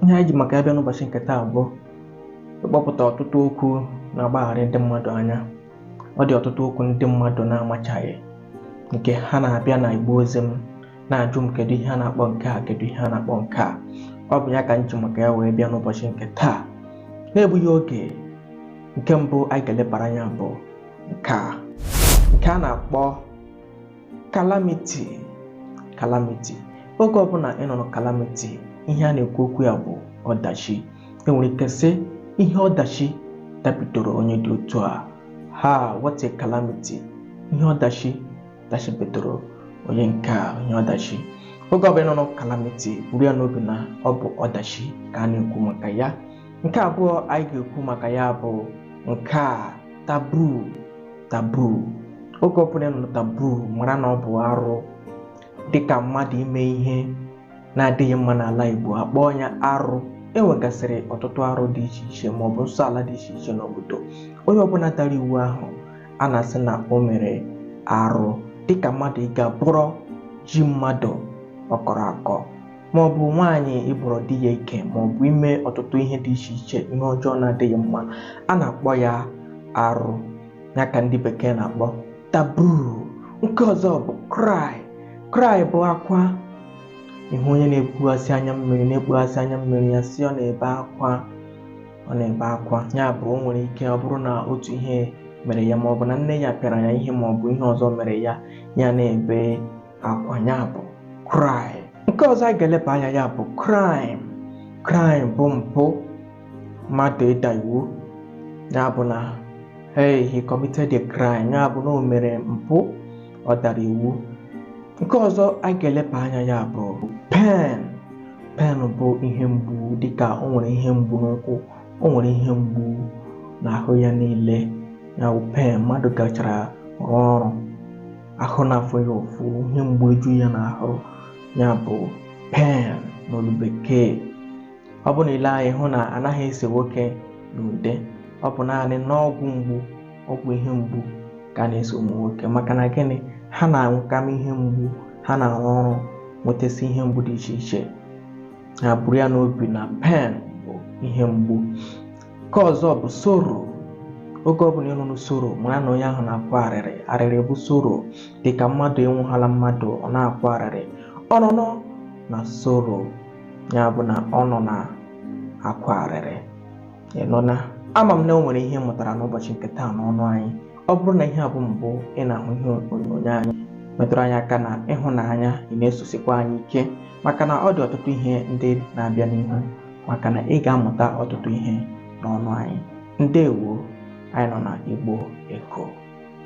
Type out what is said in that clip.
ihe anyị ji maka ya bịa n'ụbọchị nke taa bụ ịkpọpụta ọtụtụ okwu na-agbagharị ndị mmadụ anya ọ dị ọtụtụ okwu ndị mmadụ na-amachaghị nke ha na-abịa na igbe ozi m na-ajụ m kedu ihe a na-akpọ nke a kedu ihe a na-akpọ nke a ọ bụ ya ka m ji maka ya wee bịa n'ụbọchị nke taa na-egbughị oge nke mbụ anyị ga-elebara anya bụ nke a nke a na-akpọ calamity calamity oge ọbụla ị nụrụ calamity ihe a na-ekwu okwu ya bụ ọdachi enwere ike sị ihe ọdachi dabidoro onye dị otu a ha what a calamity ihe ọdachi dachibidoro onye nke a ihe ọdachi oge ọbụla ị nụrụ calamity buru ya n'obi na ọ bụ ọdachi ka a na-ekwu maka ya nke abụọ anyị ga-ekwu maka ya bụ nke a taboo taboo oge ọbụla ị nụrụ taboo mara na ọ bụ arụ dịka mmadụ ime ihe na-adịghị mma n'ala Igbo akpọọ ya arụ e nwegasịrị ọtụtụ arụ dị iche iche ma ọ bụ nsọ ala dị iche iche n'obodo onye ọbụla dara iwu ahụ a na-asị na o mere arụ dịka mmadụ ịga bọrọ ji mmadụ ọ kọrọ akọ ma ọ bụ nwaanyị ịbọrọ di ya ike ma ọ bụ ime ọtụtụ ihe dị iche iche ihe ọjọọ na-adịghị mma a na-akpọ ya arụ ya ka ndị bekee na-akpọ taboo nke ọzọ bụ cry cry bụ akwa ị hụ onye na-ekpughasị anya mmiri na-ekpughasị anya mmiri a sị ọ na-ebe akwa ọ na-ebe akwa ya bụ o nwere ike ọ bụrụ na otu ihe mere ya ma ọ bụ na nne ya pịara ya ihe ma ọ bụ ihe ọzọ mere ya ya na-ebe akwa ya bụ cry nke ọzọ a ga-eleba anya ya bụ crime crime bụ mpụ mmadụ ịda iwu ya bụ na hey he committed a crime ya bụ na o mere mpụ ọ dara iwu nke ọzọ a ga-eleba anya ya bụ pain pain bụ ihe mgbu dịka o nwere ihe mgbu n'ụkwụ o nwere ihe mgbu n'ahụ ya niile ya bụ pain mmadụ gachara rụọ ọrụ ahụ na-afụ ya ụfụ ihe mgbu eju ya n'ahụ ya bụ pain n'olu bekee ọ bụ na ile anyị hụ na anaghị ese nwoke n'ude ọ bụ naanị n'ọgwụ mgbu ọgwụ ihe mgbu ka a na-ese ụmụ nwoke maka na gịnị ha na-anwụkama ihe mgbu ha na-arụ ọrụ nwetasị ihe mgbu dị iche iche ha buru ya n'obi na pain bụ ihe mgbu nke ọzọ bụ sorrow oge ọbụla ị nụrụ sorrow mara na onye ahụ na-akwa arịrị arịrị bụ sorrow dịka mmadụ enwụhala mmadụ ọ na-akwa arịrị ọ nọ nọ na sorrow ya bụ na ọ nọ na-akwa arịrị nn ama m na o nwere ihe ị mụtara n'ụbọchị nke taa n'ọnụ anyị ọ bụrụ na ihe a bụ mbụ ị na-ahụ ihe onyonyo anyị metụrụ anyị aka n'ịhụnanya ị na-esosikwa anyị ike maka na ọ dị ọtụtụ ihe ndị na-abịa n'ihu maka na ị ga-amụta ọtụtụ ihe n'ọnụ anyị ndewo anyị nọ na igbo echo